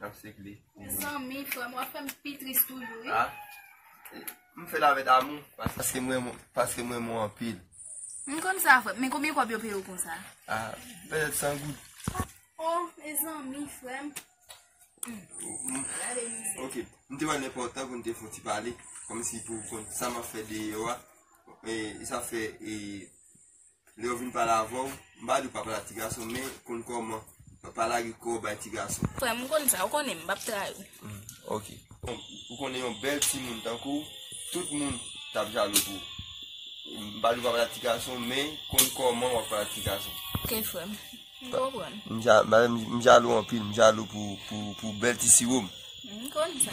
Nap sik li. Mezanmi frèm wap fèm pi tris toujou wi. M fèl avèk damou. Paske m renmen w. Paske m renmen w anpil. M konn sa frèm. Men konbyen kòb yo peye w konsa? Pèlèt 100 goud. Oh mezanmi frèm. Gade mizè. Ok m te wè l enpòtan pou n te fon ti pale. Kòmsi pou w konn sa map fè deyò a. E sa fè e. Lè yo vin pale avè w, m pa di w pa pale ak ti gason men konn kòman pale ak li kò bay ti gason. Frè m, m konn sa, ou konnen m, m pap trayi w. M, ok. Ou konnen yon bèl timoun tankou w, tout moun t ap jalou pou ou. M pa di w pa pale ak ti gason men konn kòman w ap pale ak ti gason. Ok frè m, m konprann. M ja, m jalou anpil, m jalou pou bèl ti siwo m. M konn sa.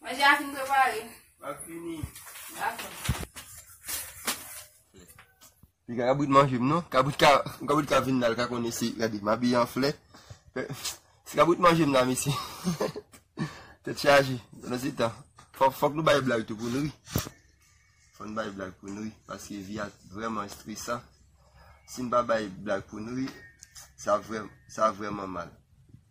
Manje a fin prepare. Lap fini. Dakò. Li ka kabrit manje m non. Kabrit ka, kabrit ka vin la, l ka konnen si, gade, m abiye an flè. Si kabrit manje m la mesye. Tèt chaje. Pandan se tan, fòk, fòk nou bay blag tou pou nou ri. Fòk nou bay blag pou nou ri. Paske vi a vrèman estresan. Si n pa bay blag pou nou ri, sa vrèman, sa vrèman mal.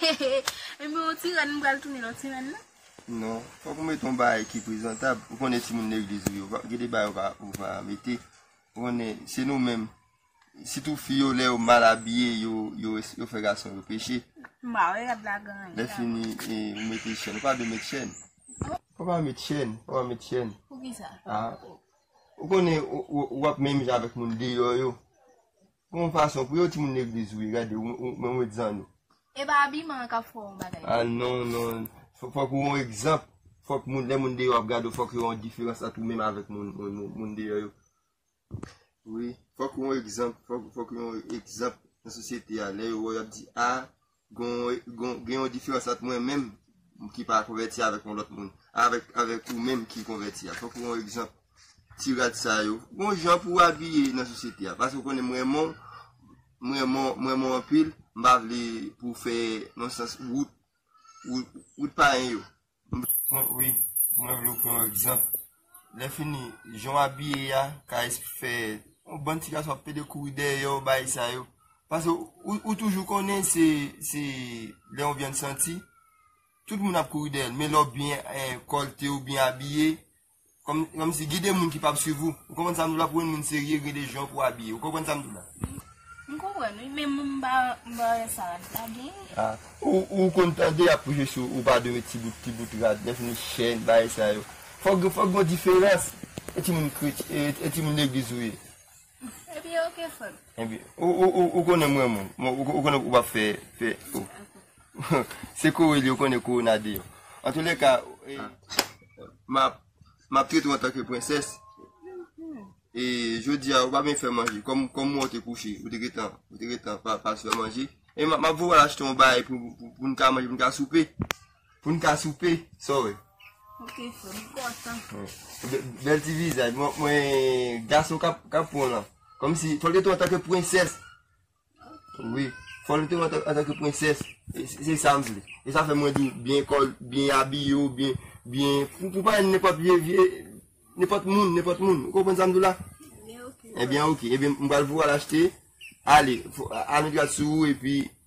Hehe Enben yon ti rèn m pral tounen yon ti rèn non. Non, fòk ou mete yon bagay ki prezantab. Ou konnen timoun legliz ou yo, gen de bagay ou pa mete. Ou konnen, se nou menm. Sitou fi yo, lè yo mal abiye, yo fè gason yo peche. M pa wè rad la gran. Lèfini, ou mete chèn. Ou pa dwe met chèn. Ou pa met chèn. Ou pa met chèn. Poukisa? Ou konnen, ou ap menm jan avèk moun deyò yo. Gon fason pou yo timoun legliz wi gade men yon egzann. Epa abiman an kap fè w bagay. Ah non non fok ou yon egzanp fok moun lè moun deyò ap gade w fok yo wè yon diferans ant ou menm avèk moun deyò yo wi fok ou yon egzanp fok ou yon egzanp nan sosyete a lè yo wè w yap di ah. Gen yon diferans ant mwen menm ki pa konvèti avèk yon lòt moun, avèk ou menm ki konvèti a. Fòk ou yon egzanp. Ti rad sa yo. Gon jan pou w abiye nan sosyete a. Paske ou konnen m renmen w, m renmen w anpil, m pa vle pou w fè yon sans wout pa yon yo. Mwen wi mwen vle ou pran yon egzanp lèfini jan w abiye a ka fè yon bann ti gason ap pede kouri dèyè w bagay sa yo paske ou toujou konnen se se lè yon vyann santi tout moun ap kouri dèyè l men lè w byen kòlte ou byen abiye Kòmsi gide moun ki pap swiv ou. Ou konprann sa m di w la pou yon moun serye gen de jan pou w abiye. Ou konprann sa m di w la? M konprann wi men m pa wè sa rad la gen. A ou konn tande y ap preche sou ou pa dwe met ti bout ti bout rad lèfini chèn bagay sa yo. Fòk gen yon diferans e timoun kretyen e timoun legliz ou ye. Ebyen ok frem. Ebyen ou konnen m renmen w. Ou konnen ou pa fe fe. Se kore li ou konnen kore na deyo. An tou le ka map trete w antanke prenses. E jodi a ou pa byen fe manje. Kom m we w te kouche. Ou te gentan pa fe manje. E map voye w al achte yon bagay pou n ka manje pou n ka soupe. Poun ka soupe, sa w wè? Ok frè, m kontan. Bèl ti vizaj, mwen gason kap pran w lan. Kòm si, fòl gen tou antanke pwensès. Wi, fòl gen tou antanke pwensès. Se sa m vle. Se sa fè mwen di w, byen kòl, byen abiye w, byen, byen. Pou pa yon nenpòt vye, vye, nenpòt moun, nenpòt moun. Ou konprann sa m di w la? Ebyen ok. Ebyen ok. Ebyen m pral voye w al achte. Ale, al met gad sou ou epi.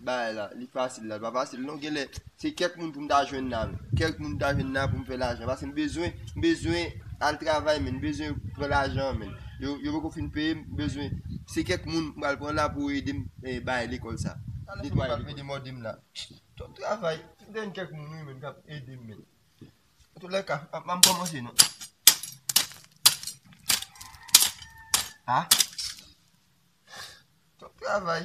Bagay la li fasil la li pa fasil non genlè se kèk moun pou m ta jwenn la men kèk moun m ta jwenn la pou m fè lajan paske m bezwen m bezwen al travay men m bezwen pran lajan men yo poko fin peye m m bezwen se kèk moun m pral pran la pou yo ede m bay lekòl sa talè m ap mete m ode m la tout travay m jwenn kèk moun wi men k ap ede m men antoulèka m pa m kòmanse non a tout travay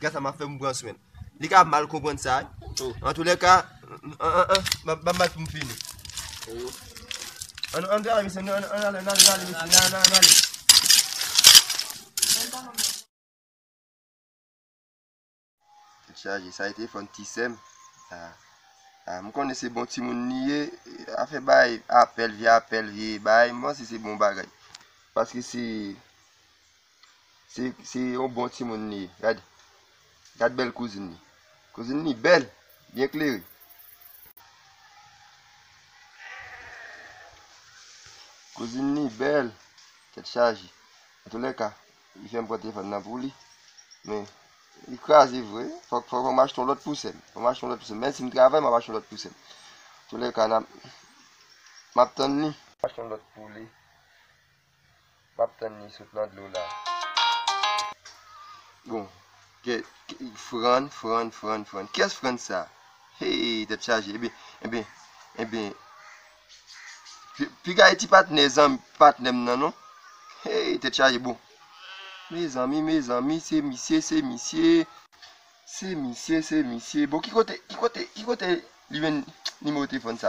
Gad sa m ap fè pou m pran swen l. Li ka mal konprann sa. Antoulèka, ban m bat pou m fini. An nou ale mesye, an nou ale, an nou ale mesye, an nou ale. Tèt chaje, sa e telefòn ti sè m. M konnen se bon timoun li ye, afè bay apèl, vye apèl, vye bay, m panse se bon bagay. Paske se Se yon bon timoun li ye. Gade. Gade bèl kouzin li. Kouzin li bèl. Byen klere. Kouzin li bèl. Tèt chaje. An tou lè ka. Li fèm pran telefòn nan pou li. Men. Li kraze vre. Fòk fòk m achte yon lòt pou sèm. Fòk m achte yon lòt pou sèm. Menm si m travay m ap achte yon lòt pou sèm. An tou lè ka nan. M ap tann li. Achte yon lòt pou li. Map tann li sot nan dlo la. Bon Fran Fran Fran Fran kiyès Fran sa heyy tèt chaje ebyen ebyen ebyen piga e ti patnè zanmi patnèm nan non heyy tèt chaje bon mezanmi mezanmi se misye se misye se misye se misye bon ki kote ki kote ki kote li jwenn nimewo telefòn sa